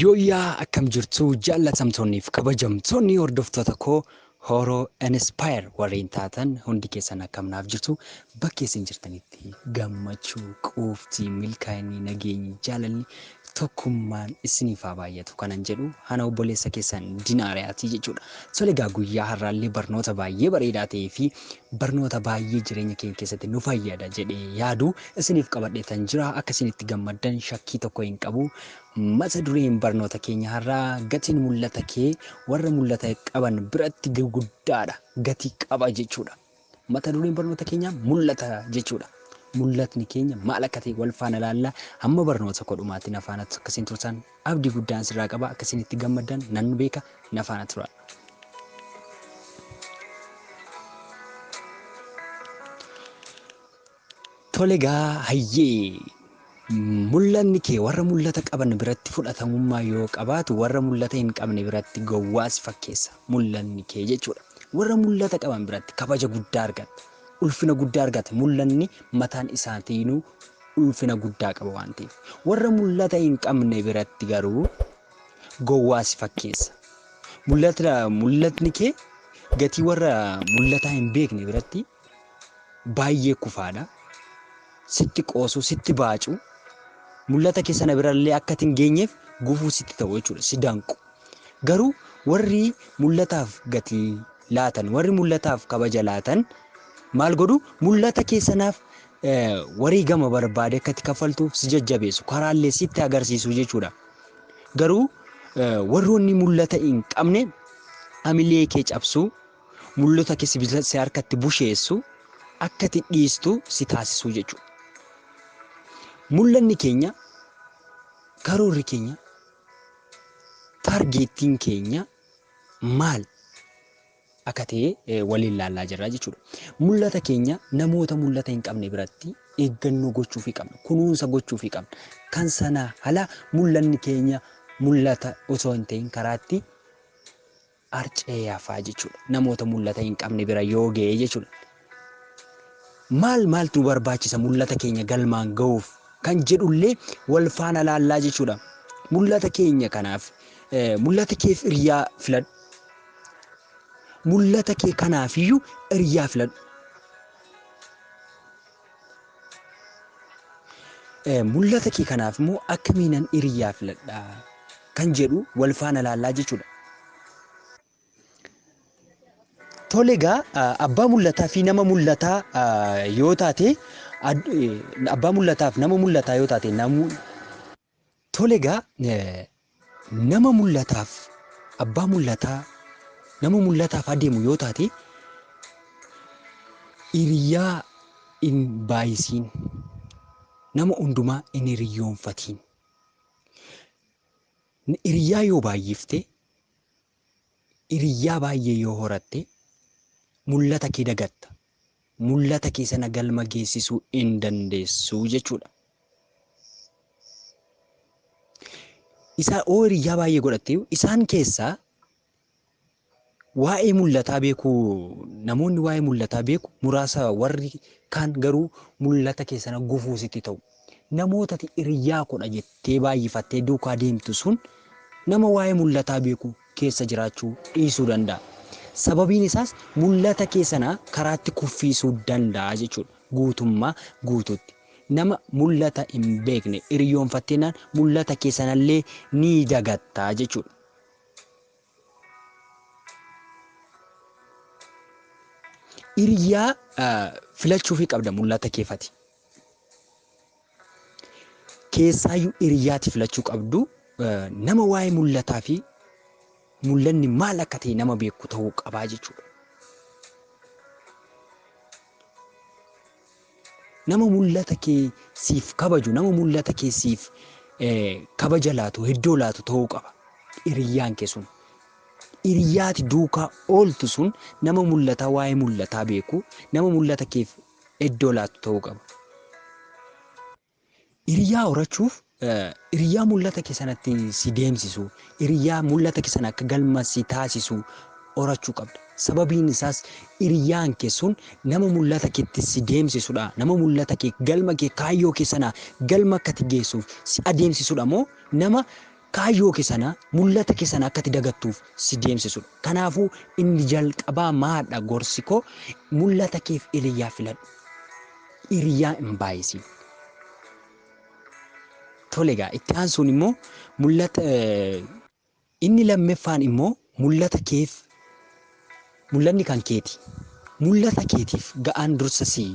Yooyyaa akkam jirtu jaallatamtoonniif kabajamtoonni hordoftoota koo Horo Inspire warreen taatan hundi keessan akkam naaf jirtu bakka isin jirtanitti gammachuu, quuftii, milkaa'inni, nageenyi, jaalalli Tokkummaan isiniif haa baay'atu kanan jedhu ana obboleessa keessan Dinaariyaati jechuudha. Tole egaa guyyaa har'aallee barnoota baay'ee bareedaa ta'ee fi barnoota baay'ee jireenya keenya keessatti nu fayyada jedhee yaadu isiniif qabadheetan jira. Akka isin itti gammaddan shakkii tokko hin qabu. Mata dureen barnoota keenya har'aa gatiin mul'ata kee warra mul'ata qaban biratti guddaadha. Gatii qaba jechuudha. Mata dureen barnoota keenyaa mul'ata jechuudha. Mul'atni keenya maal akka ta'e wal faana ilaalla. Hamma barnoota koo dhumaatti na faana akka isin turtan abdii guddaan sirraa qaba. Akka isin itti gammaddan nan beeka na faana tura. Tole egaa hayyee mul'anni kee warra mul'ata qaban biratti fudhatamummaa yoo qabaatu warra mul'ata hin qabne biratti gowwaa si fakkeessa mul'anni kee jechuudha. Warra mul'ata qaban biratti kabaja guddaa argatta. Ulfina guddaa argata mul'anni mataan isaatiinuu ulfina guddaa qaba waan ta'eef. Warra mul'ata hin qabne biratti garuu gowwaa si fakkeessa. Mul'ata mul'atni kee gatii warra mul'ataa hin beekne biratti baay'ee kufaadha. Sitti qoosuu, sitti baacuu, mul'ata kee sana birallee akka ati hin geenyeef gufuu sitti ta'u jechuudha, si danqu. Garuu warri mul'ataaf gatii laatan, warri mul'ataaf kabaja laatan maal godhu? Mul'ata kee sanaaf eh, wareegama barbaade akka ati kaffaltuuf si jajjabeessu, karaallee sitti agarsiisu jechuudha. Garuu eh, warroonni mul'ata hin qabne hamilee kee cabsuu, Mul'ota kee sibiila si harkatti busheessu akka ati dhiistu si taasisuu jechuudha. Mul'anni keenya, karoorri keenya, taargeettiin keenya maal akka ta'e waliin laallaa jirra jechuudha. Mul'ata keenya namoota mul'ata hin qabne biratti eeggannoo gochuufii qabna, kunuunsa gochuufii qabna. Kan sanaa ala mul'anni keenya mul'ata osoo hin ta'in karaatti Arcee hafaa jechuudha. Namoota mul'ata hin qabne bira yoo ga'e jechuudha. Maal maaltu nu barbaachisa mul'ata keenya galmaan ga'uuf kan jedhullee wal faana laallaa jechuudha. Mul'ata keenya kanaaf mul'ata keef hiriyaa filadhu. Mul'ata kee kanaafiyyuu hiriyaa filadhu. Mul'ata kee kanaaf immoo akkamiinan hiriyaa filadha kan jedhu wal faana laallaa jechuudha. Tole egaa abbaa mul'ataa fi nama mul'ataa yoo taate abbaa mul'ataaf nama mul'ataa yoo taate namuu Tole egaa nama mul'ataaf abbaa mul'ataa nama mul'ataaf adeemu yoo taate hiriyaa hin baay'isiin nama hundumaa hin hiriyyoonfatiin hiriyaa yoo baay'ifte hiriyaa baay'ee yoo horatte mul'ata kee dagatta. mul'ata kee sana galma geessisuu in dandeessu jechuudha. Isaa oo hiriyyaa baay'ee godhattee isaan keessaa waa'ee mul'ataa beeku namoonni waa'ee mul'ataa beeku muraasa warri kaan garuu mul'ata kee sana gufuu sitti ta'u. Namoota ati hiriyyaa koodha jettee baay'ifattee duukaa deemtu sun nama waa'ee mul'ataa beeku keessa jiraachuu dhiisuu danda'a. Sababiin isaas mul'ata kee sana karaatti kuffiisuu danda'a jechuudha. Guutummaa guutuutti nama mul'ata hin beekne hiriyyoonfatteennaan mul'ata kee sanallee ni dagatta jechuudha. Hiriyaa filachuufii qabda mul'ata keefati. Keessaayyuu hiriyaati filachuu qabdu nama waa'ee mul'ataa fi mul'anni maal akka ta'e nama beeku ta'uu qabaa jechuudha. Nama mul'ata kee siif kabaju, nama mul'ata kee siif kabaja laatu, iddoo laatu ta'uu qaba hiriyyaan kee sun. Hiriyyaa ati duukaa ooltu sun nama mul'ataa waa'ee mul'ataa beeku, nama mul'ata keef iddoo laatu ta'uu qaba. Hiriyaa horachuuf hiriyaa mul'ata kee sanatti si deemsisu, hiriyaa mul'ata kee sana akka galma si taasisu horachuu qabda. Sababiin isaas hiriyaan kee sun nama mul'ata keetti si deemsisudha. Nama mul'ata kee galma kee kaayyoo kee sana galma akka ati geessuuf si adeemsisudha moo nama Kaayyoo kee sana, mul'ata kee sana akka ati dagattuuf si deemsisudha. Kanaafuu inni jalqabaa maadha gorsi koo mul'ata keef hiriyyaa filadhu. Hiriyyaa hin baay'isin. Tole egaa itti aansuun immoo mul'ata inni lammeffaan immoo Mul'ata keef mul'anni kan keeti. Mul'ata keetiif ga'aan dursa si.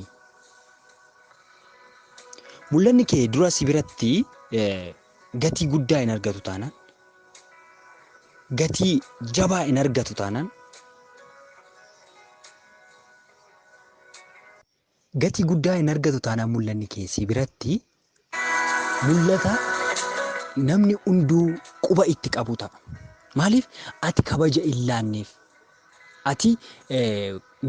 Mul'anni kee dura si biratti gatii guddaa hin argatu taanaan, gatii jabaa hin argatu taanaan, Gatii guddaa hin argatu taanaan mul'anni kee si biratti mul'ata namni hunduu quba itti qabu ta'a. Maaliif ati kabaja hin laanneef. Ati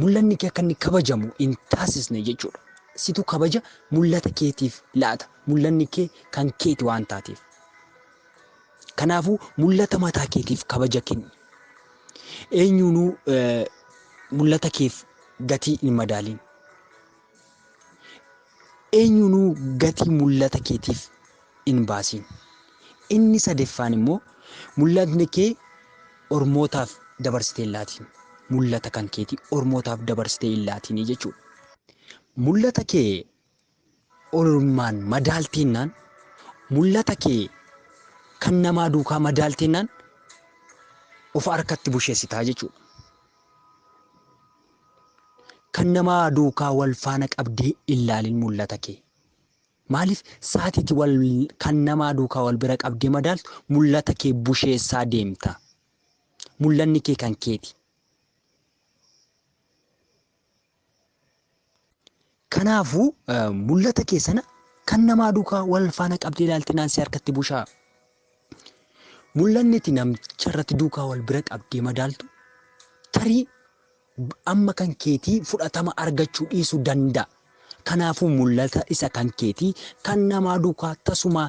mul'anni kee akka inni kabajamu hin taasisne jechuudha. Situ kabaja mul'ata keetiif laata. Mul'anni kee kan keeti waan taateef. Kanaafuu mul'ata mataa keetiif kabaja kenni. Eenyuunuu mul'ata keef gatii hin madaalin. Eenyuunuu gatii mul'ata keetiif hin baasin. Inni sadeffaan immoo mul'atni kee ormootaaf dabarsitee hin laatin. Mul'ata kan keetii ormootaaf dabarsitee hin laatinii jechuudha. Mul'ata kee Ormaan madaalteennaan, mul'ata kee kan namaa duukaa madaalteennaan of harkatti busheessita jechuudha. Kan namaa duukaa wal faana qabdee illaalin mul'ata kee. Maaliif saatiiti wal kan namaa duukaa wal bira qabdee madaaltu mul'ata kee busheessaa deemta. Mul'anni kee kan keeti. Kanaafuu mul'ata kee sana kan namaa duukaa wal faana qabdee ilaalte naan si harkatti bushaa. Mul'anni itti namticha irratti duukaa wal bira qabdee madaaltu tarii amma kan keetii fudhatama argachuu dhiisuu danda'a. Kanaafuu mul'ata isa kan keetii kan namaa duukaa tasumaa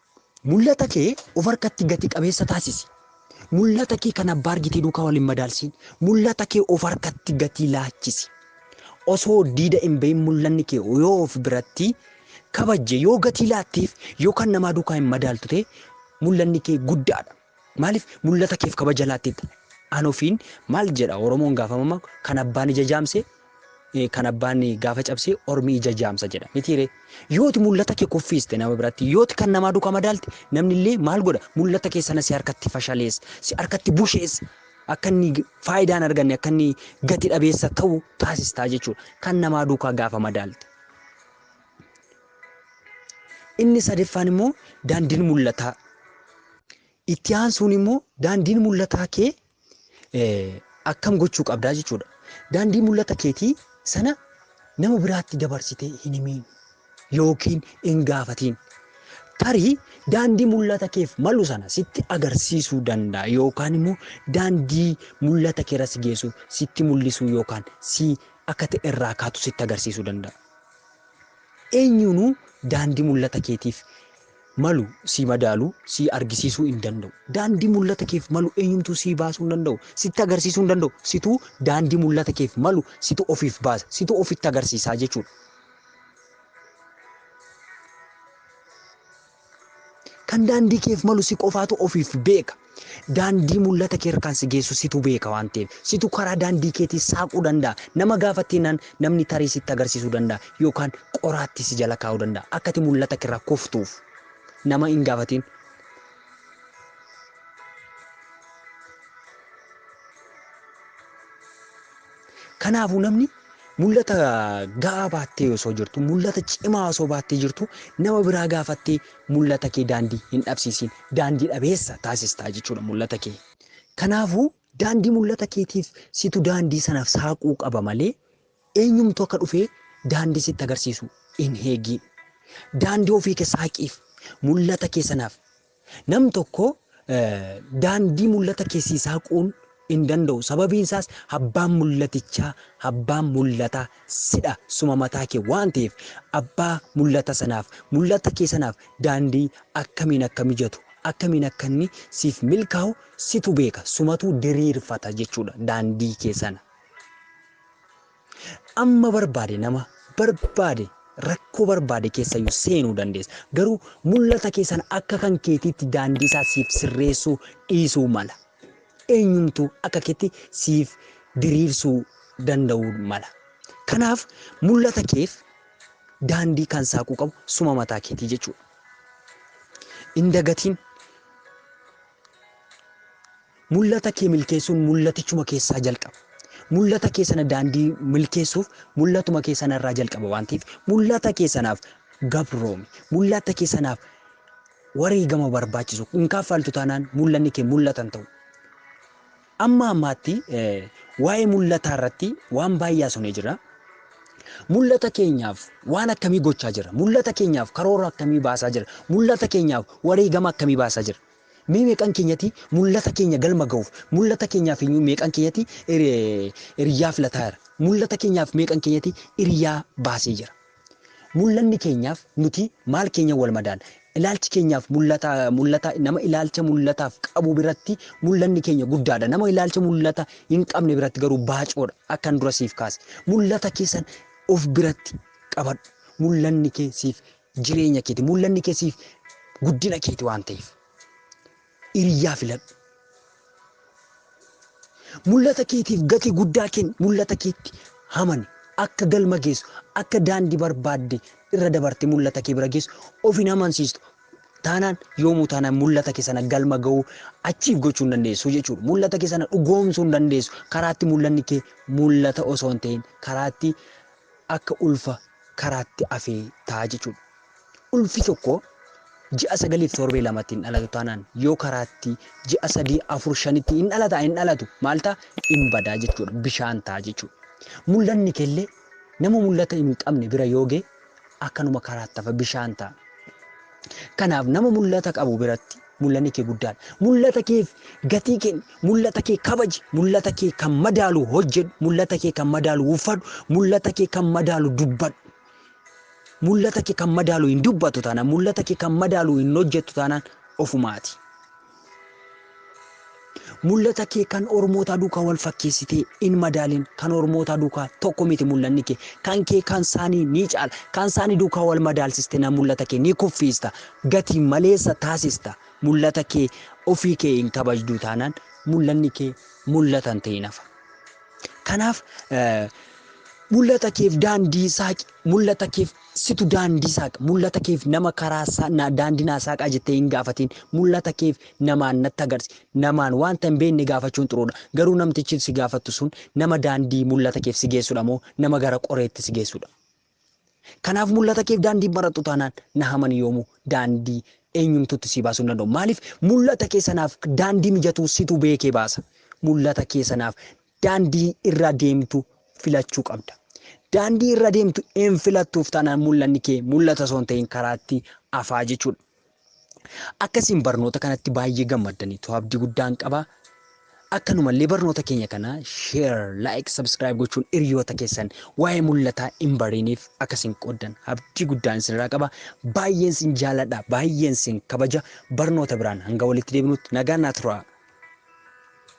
Mul'ata kee of harkatti gati qabeessa taasisi. Mul'ata kee kan abbaa argitee duukaa wal hin madaalsiin. Mul'ata kee of harkatti gatii laachisi. Osoo diida hin bahin mul'anni kee yoo of biratti kabajje, yoo gatii laatteef, yoo kan namaa duukaa hin madaaltu ta'e mul'anni kee guddaadha. Maaliif mul'ata keef kabaja laattetta? An ofiin maal jedha Oromoon gaafa mamma kan abbaan ija jaamse eh, kan abbaan gaafa cabse ormi ija jaamsa jedha mitiiree yooti mul'ata kee kuffiiste nama biratti yooti kan namaa duka madaalte namnillee maal godha mul'ata kee sana si harkatti fashalees si harkatti bushees akka inni g- faayidaa hin arganne akka inni gati dhabeessa ta'u taasistaa jechuudha kan namaa duukaa gaafa madaalte Inni sadaffaan immoo daandiin mul'ataa. Itti aansuun immoo daandiin mul'ataa kee akkam gochuu qabdaa jechuudha. Daandii mul'ata keetii sana nama biraatti dabarsitee hin himiin yookiin hin gaafatiin. Tarii daandii mul'ata keef malu sana sitti agarsiisuu danda'a yookaan immoo daandii mul'ata keerra si geessu sitti mul'isuu yookaan si akka ta'e irraa kaatu sitti agarsiisuu danda'a. Eenyuunuu daandii mul'ata keetiif malu sii madaaluu, sii argisiisuu hin danda'u. Daandii mul'ata keef malu eenyumtuu sii baasuu hin danda'u. Sitti agarsiisuu hin danda'u. Situu daandii mul'ata keef malu situ ofiif baasa. Situ ofitti agarsiisaa jechuudha. Kan daandii keef malu si qofaatu ofiif beeka. Daandii mul'ata kee irkaan si geessu situ beeka waan ta'eef. Situ karaa daandii keetii saaquu danda'a. Nama gaafatteenaan namni tarii sitti agarsiisuu danda'a yookaan qoraattii si jala kaa'uu danda'a akka ati mul'ata kee irraa kuftuuf. Nama hin gaafatiin. Kanaafuu namni mul'ata ga'aa baattee osoo jirtu, mul'ata cimaa osoo baattee jirtu nama biraa gaafattee mul'ata kee daandii hin dhabsiisiin. Daandii dhabeessa taasistaa jechuudha mul'ata kee. Kanaafuu daandii mul'ata keetiif situ daandii sana saaquu qaba malee eenyumtu akka dhufee daandii sitti agarsiisu hin eegiin. Daandii ofii kee saaqiif, mul'ata kee sanaaf Namni tokko daandii mul'ata kee sii saaquun hin danda'u, sababiin isaas abbaan mul'atichaa, abbaan mul'ataa sidha, suma mataa kee waan ta'eef abbaa mul'ata sanaaf, mul'ata kee sanaaf daandii akkamiin akka mijatu, akkamiin akka inni siif milkaa'u situ beeka, sumatu diriirfata jechuudha daandii kee sana. Amma barbaade nama barbaade rakkoo barbaade keessayyuu seenuu dandeessa. Garuu mul'ata kee sana akka kan keetiitti daandii isaa siif sirreessuu dhiisuu mala. Eenyumtuu akka keetti siif diriirsuu danda'uu mala. Kanaaf mul'ata keef daandii kan saaquu qabu suma mataa keetii jechuudha. Hin dagatiin. Mul'ata kee milkeessuun mul'atichuma keessaa jalqaba. Mul'ata kee sana daandii milkeessuuf mul'atuma kee sana irraa jalqaba waan ta'eef mul'ata kee sanaaf gabroomi. Mul'ata kee sanaaf wareegama barbaachisu hin kaffaltu taanaan mul'anni kee mul'ata hin ta'u. Amma ammaatti waa'ee mul'ataa irratti waan baay'ee haasofnee jirra. Mul'ata keenyaaf waan akkamii gochaa jirra? Mul'ata keenyaaf karoora akkamii baasaa jirra? Mul'ata keenyaaf wareegama akkamii baasaa jirra? Mee meeqan keenyati mullata keenya galma gahuuf mullata keenyaaf inyuu meeqan keenyati iriyyaa filataa jira? Mullata keenyaaf meeqan keenyati iriyyaa baasee jira? Mullanni keenyaaf nuti maal keenyan wal madaala? Ilaalchi keenyaaf mullata mullata nama ilaalcha mullataaf qabu biratti mullanni keenya guddaadha. Nama ilaalcha mullata hin qabne biratti garuu baacoodha. Akkan dura siif kaase. Mullata keessan of biratti qabadhu. Mullanni kee siif Jireenya keeti. Mul'anni kee siif guddina keeti waan ta'eef. Hiriyaa filadhu. Mul'ata keetiif gatii guddaa kenni. Mul'ata keetti amani. Akka galma geessu, akka daandii barbaadde irra dabarte mul'ata kee bira geessu of hin amansiistu. Taanaan yoomuu taanaan mul'ata kee sana galma ga'uu achiif gochuu hin dandeessu jechuudha. Mul'ata kee sana dhugoomsuu hin dandeessu. Karaatti mul'anni kee mul'ata osoo hin ta'in karaatti akka ulfa karaatti afee ta'a jechuudha. Ulfi tokko ji'a sagaliif torbee lamatti hin dhalatu taanaan yoo karaatti ji'a sadii afur shanitti hin dhalata hin dhalatu maal ta'a hin badaa jechuudha bishaan ta'a jechuudha. Mul'anni kellee nama mul'ata hin qabne bira yoo ga'e akkanuma karaatti hafa bishaan ta'a. Kanaaf nama mul'ata qabu biratti Mul'anni kee guddaadha. Mul'ata keef gatii kenni. Mul'ata kee kabaji. Mul'ata kee kan madaalu hojjedhu. Mul'ata kee kan madaalu uffadhu. Mul'ata kee kan madaalu dubbadhu. Mul'ata kee kan madaalu hin dubbattu taanaan, mul'ata kee kan madaalu hin hojjettu taanaan ofumaati. Mul'ata kee kan ormootaa duukaa wal fakkeessitee in madaalin, kan ormootaa duukaa tokko miti mul'anni kee, kan kee kan saanii ni caala, kan saanii duukaa wal madaalsiste na mul'ata kee ni kuffiista, gati maleessa taasista, mul'ata kee ofii kee hin kabajduu taanaan mul'anni kee mul'ata hin ta'in hafa. Kanaaf mul'ata keef daandii saaqi, mul'ata keef Situ daandii saaqa. Mul'ata keef nama karaa sa, na, daandii naa saaqaa jettee hin gaafatiin. Mul'ata keef namaan natti agarsi. Namaan wanta hin beekne gaafachuun xuruudha. Garuu namtichi si gaafattu sun nama daandii mul'ata keef si geessudha moo nama gara qoreetti si geessudha? Kanaaf mul'ata keef daandii hin barattu taanaan na hamani yoomuu daandii eenyumtuutti sii baasuu hin danda'u. Maaliif mul'ata kee sanaaf daandii mijatuu situ beekee baasa. Mul'ata kee sanaaf daandii irra deemtu filachuu qabda. Daandii irra deemtu hin filattuuf taanaan mul'anni kee mul'ata osoo hin ta'in karaatti afaa jechuudha. Akkasiin barnoota kanatti baay'ee gammaddaniitu abdii guddaan qaba. Akkanumallee barnoota keenya kana share, like, subscribe gochuun hiriyoota keessan waa'ee mul'ataa hin bariiniif akkasiin qooddan abdii guddaan isinirraa qaba. Baay'een sin jaaladha, baay'een sin kabaja. Barnoota biraan hanga walitti deebinutti nagaan naa turaa.